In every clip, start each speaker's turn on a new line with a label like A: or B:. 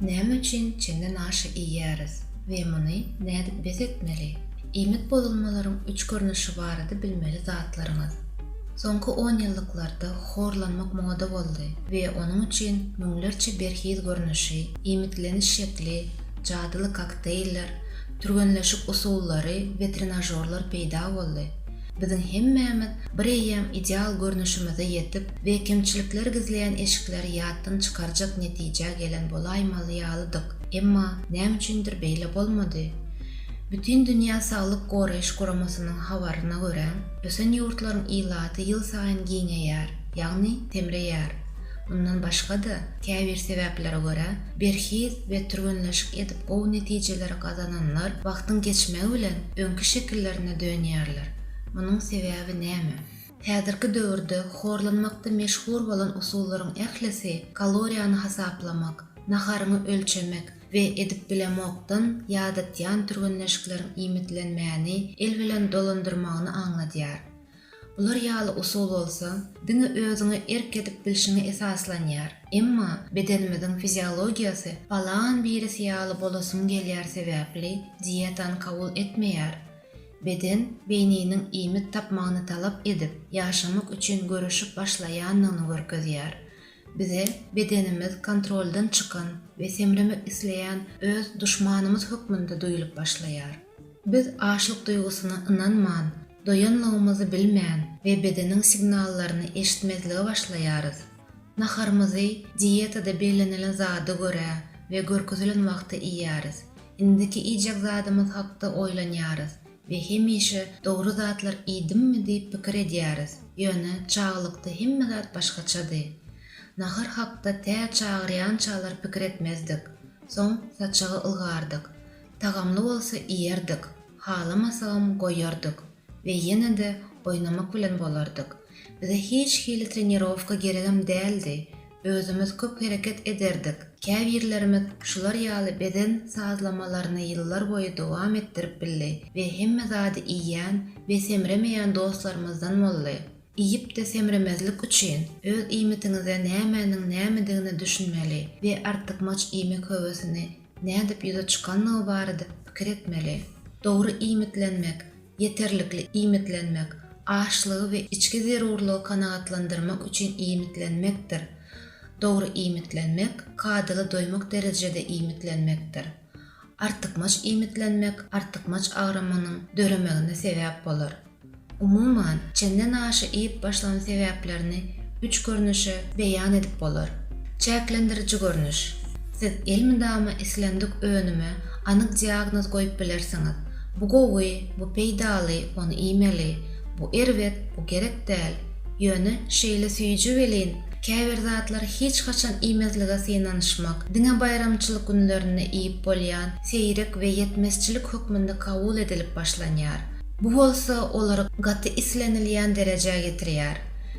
A: Näme üçin çeňňe naşy iýýäris we muny nädip bes etmeli? Iýmit bozulmalaryň üç görnüşi barada bilmeli zatlaryňyz. Soňky onýyllyklarda horlanmak moda boldy we onuň üçin müňlerçe berhiz görnüşi, iýmitleniş şekli, jadyly kokteýller, türgenleşik usullary we trenažorlar peýda boldy. Biziň hemmämiz bir eýýäm ideal görnüşimize ýetip we kemçilikleri gizleýän eşikleri ýatdan çykarjak netijä gelen bolaýmaly ýalydyk, emma näme üçindir beýle bolmady. Bütindünýä saglyk goraýyş guramasynyň habaryna görä, ösen ýurtlaryň ilaty ýylsaýyn giňeýär, ýagny semreýär. Mundan başga-da, käbir sebäplere görä, berhiz we türgenleşik edip gowy netijeleri gazananlar wagtyň geçmegi bilen öňki şekillerine dönýärler. Munuň sebäbi näme? Häzirki döwürde horlanmakda meşhur bolan usullaryň ählisi kaloriýany hasaplamak, naharyňy ölçemek we edip bilemokdan ýadatýan türgenleşikleriň iýmitlenmäni el bilen dolandyrmagyny aňladýar. Bular ýaly usul bolsa, diňe özüňe erk edip bilşiňe esaslanýar. Emma bedenimiziň fiziologiýasy palan birisi ýaly bolasym gelýär sebäpli dietany kabul etmeýär. Beden beýniniň iýmit tapmagyny talap edip, ýaşamak üçin göreşip başlaýanyny görkezýär. Bize bedenimiz kontroldan çykan we semremek isleýän öz duşmanymyz hökmünde duýlup başlaýar. Biz açlyk duýgusyna ynanman, Doýanlygymyzy bilmän we bedeniň signallaryny eşitmezlige başlaýarys. Naharymyzy diýetada bellenilen zada görä we görkezilen wagtda iýýäris. Indiki iýjek zadymyz hakda oýlanýarys we hemişe dogry zatlar iýdimmi diýip pikir edýäris. Ýöne çagalykda hemme zat başgaçady. Nahar hakda tä çagyrýançalar pikir etmezdik. Soň saçagy ylgardyk. Tagamly bolsa iýerdik. Halamasagam goýardyk we ýene-de oýnamak bilen bolardyk. Bize hiç hili trenirowka geregem däldi, özümiz köp hereket ederdik. Käbirlerimiz şular ýaly beden sazlamalaryny ýyllar boýy dowam etdirip bildi we hemme zady iýýän we semremeýän dostlarymyzdan boldy. Iýip-de semremezlik üçin, öz iýmitiňize nämäniň nämedigine düşünmeli we artykmaç iýmek höwesini nädip ýüze çykandygy barada pikir etmeli. Dogry iýmitlenmek, ýeterlikli iýmitlenmek, açlygy we içki zerurlygy kanagatlandyrmak üçin iýmitlenmekdir. Dogry iýmitlenmek, kadaly doýmak derejede iýmitlenmekdir. Artykmaç iýmitlenmek artykmaç agramynyň döremegine sebäp bolar. Umuman, çenden aşa iýip başlan sebäplerini üç görnüşe beýan edip bolar. Çäklendiriji görnüş. Siz elmydama islendik önüme anyk diagnoz goýup bilersiňiz, bu gowy, bu peýdaly, ony iýmeli, bu erbet, bu gerek däl, Ýöne, şeýle süýji welin, käbir zatlary hiç haçan iýmezlige synanyşmak, diňe baýramçylyk günlerinde iýip bolýan, seýrek we ýetmezçilik hökmünde kabul edilip başlanýar. Bu bolsa olary gaty islenilýän derejä ýetirýär.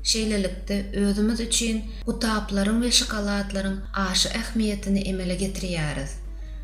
A: Şeýlelikde, özümiz üçin gutaplaryň we şokoladlaryň aşa ähmiýetini emele getirýäris.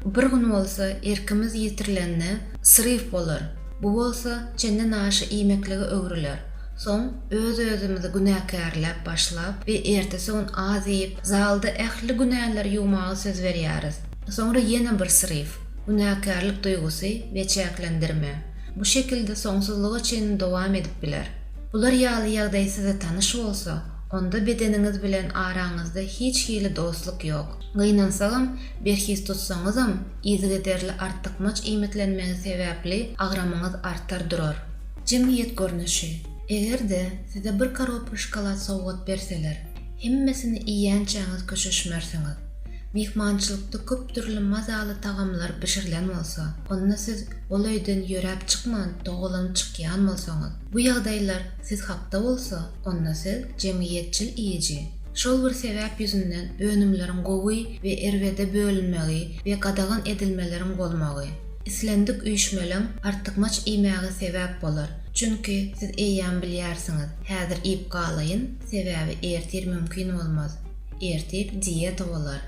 A: Bir gün bolsa, erkimiz ýitirilende, sryw bolar. Bu bolsa, çendenaşa iýmeklige öwrüler. Soň öz-özümizi günäkärläp başlap we ertesi-gün az iýip, zalda ähli günäleri ýuwmaga söz berýäris. Soňra ýene bir sryw, günäkärlik duýgusy we çäklendirme. Bu şekilde soňsuzlyga çenli dowam edip biler. Bular ýaly ýagdaý size tanyş bolsa, onda bedeniňiz bilen araňyzda hiç hili dostluk ýok. Gynansagam, berhiz tutsaňyzam, yzygiderli artykmaç iýmitlenmegiz sebäpli agramyňyz artar durar. Jemgyýet görnüşi. Eger-de size bir koropka şokolad sowgat berseler, hemmesini iýýänçäňiz köşeşmersiňiz. Myhmançylykda köp dürli mazaly tagamlar bişirilen bolsa, onda siz ol öýden ýöräp çykman dogalanyp çykýan bolsaňyz, bu ýagdaýlar siz hakda bolsa, onda siz jemgyýetçil iýiji. Şol bir sebäp ýüzünden önümleriň gowy we erbede bölünmegi we gadagan edilmeleriň bolmagy. Islendik üýşmeleň artykmaç iýmäge sebäp bolar. Çünki siz eýýäm bilýärsiňiz, häzir iýip galaýyn, sebäbi ertir mümkin bolmaz. Ertir dieta bolar.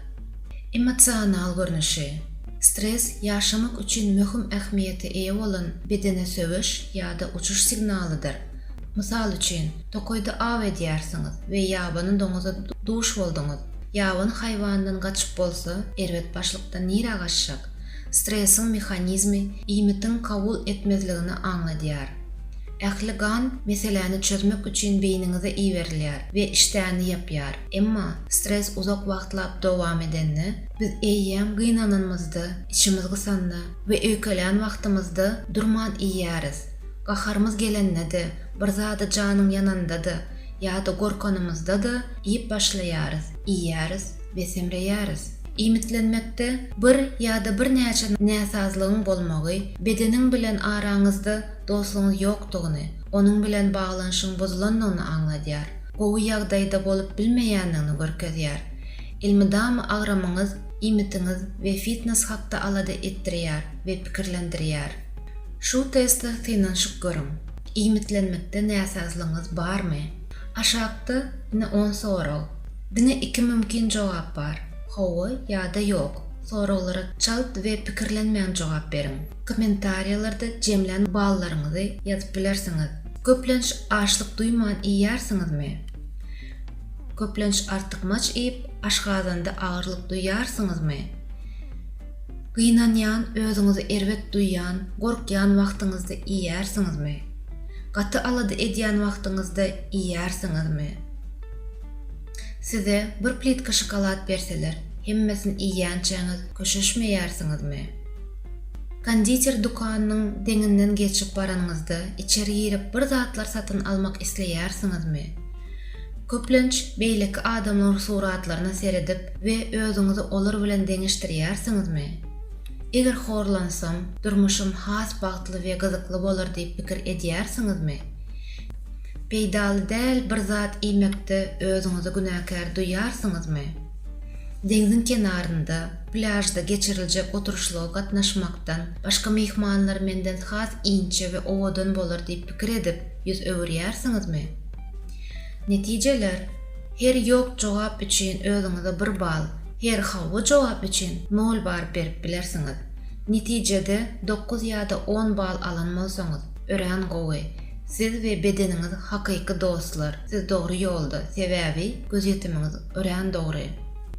A: Emosional görnüşi. Stres ýaşamak üçin möhüm ähmiýete eýe bolan bedene söweş ýa-da uçuş signalydyr. Mysal üçin, tokaýda aw edýärsiňiz we ýabany doňuza duş bolduňyz. Ýabany haýwandan gaçyp bolsa, erbet başlykdan nirä gaçjak? Stresiň mehanizmi iýmitiň kabul etmezligini aňladýar. Ähli gan meseläni çözmek üçin beýniňize iberilýär we işdäni ýapýar. Emma stres uzak wagtlap dowam edende, biz eýýäm gynananymyzda, içimiz gysanda we öýkelän wagtymyzda durman iýýäris. Gaharymyz gelende-de, bir zada janyň ýananda-da ýa-da gorkanymyzda-da iýip başlaýarys, iýýäris we semreýäris. Iýmitlenmekde bir ýa-da birnäçe näsazlygyň bolmagy, bedeniň bilen araňyzda dostlugyň ýokdugyny, onuň bilen baglanyşygyň buzulandygyny aňladýar, gowy ýagdaýda bolup bilmeýändigini görkezýär. Elmydama agramyňyz, iýmitiňiz we fitnes hakda alada etdirýär we pikirlendirýär. Şu testde synanyşyp görüň, iýmitlenmekde näsazlygyňyz barmy? Aşakda ine on sorag. Diňe iki mümkin jogap bar, Hawa ýa-da Ýok. Soraglara çalt we pikirlenmän jogap beriň. Kommentariýalarda jemlän ballaryňyzy ýazyp bilersiňiz. Köplenç açlyk duýman iýýärsiňizmi? Köplenç artykmaç iýip, aşgazanda agyrlyk duýýarsyňyzmy? Gynanýan, özüňizi erbet duýýan, gorkýan wagtyňyzda iýýärsiňizmi? Gaty alada edýän wagtyňyzda iýýärsiňizmi? Size bir plitka şokolad berseler, hemmesini iýýänçäňiz köşeşmeýärsiňizmi? Konditer dükanynyň deňinden geçip baranyňyzda içeri girip bir zatlar satyn almak isleýärsiňizmi? Köplenç beýleki adamlaryň suratlaryna seredip we özüňizi olar bilen deňeşdirýärsiňizmi? Eger horlansam, durmuşym has bagtly we gyzykly bolar diýip pikir edýärsiňizmi? Peýdaly däl bir zat iýmekde özüňizi günäkär duýýarsyňyzmy? Deňziň kenarynda, plýažda geçiriljek oturyşlyga gatnaşmakdan, başga myhmanlar menden has inçe we owadan bolar diýip pikir edip, ýüz öwürýärsiňizmi? Netijeler, Her ýok jogap üçin özüňize bir bal, her hawa jogap üçin nol baryp berip bilersiňiz. Netijede dokuz ýa-da on bal alan bolsaňyz, örän gowy. Siz we bedeniňiz hakyky dostlar, siz dogry ýolda, sebäbi gözýetimiňiz örän dogry.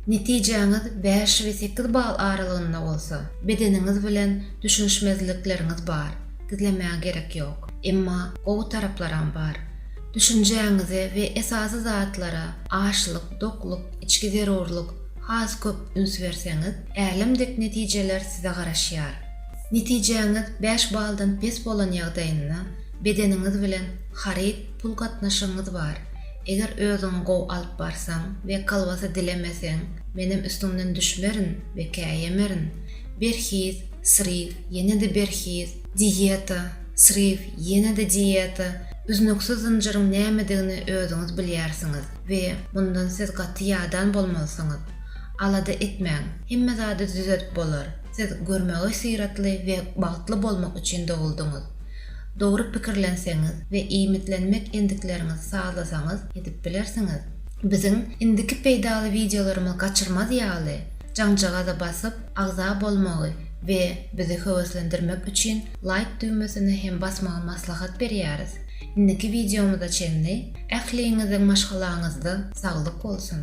A: Netijäňiz bäş we sekiz bal aralygynda bolsa, bedeniňiz bilen düşünişmezlikleriňiz bar, gizlemäge gerek ýok. Emma gowy taraplaram bar. Düşünjäňize we esasy zatlara, açlyk, dokluk, içki zerurlyk, has köp üns berseňiz, älem dek netijeler size garaşýar. Netijäňiz bäş baldan pes bolan ýagdaýynda, bedeniňiz bilen haryt, pul gatnaşygyňyz bar. Eger özüňi gowy alyp barsaň we kolbasa dilemeseň, menem üstüňden düşmerin we käýemerin. Berhiz, sryw, ýene-de berhiz, Diýeta, sriw, ýene-de diýeta, üznüksiz zynjyryň nämedigini özüňiz bilýärsiňiz we mundan siz gaty ýadan bolmalysyňyz. Alada etmäň, hemme zady düzedip bolar, siz görmäge syratly we bagtly bolmak üçin doguldyňyz. Dogry pikirlenseňiz we iýmitlenmek endikleriňizi sazlasaňyz edip bilersiňiz. Biziň indiki peýdaly wideolarymyzy gaçyrmaz ýaly, jaňjagaza basyp, agza bolmagy, we bizi höweslendirmek üçin laýk düwmesine hem basmagy maslahat berýäris. Indiki wideomyza çenli ähliňiziň maşgalaňyzda saglyk bolsun!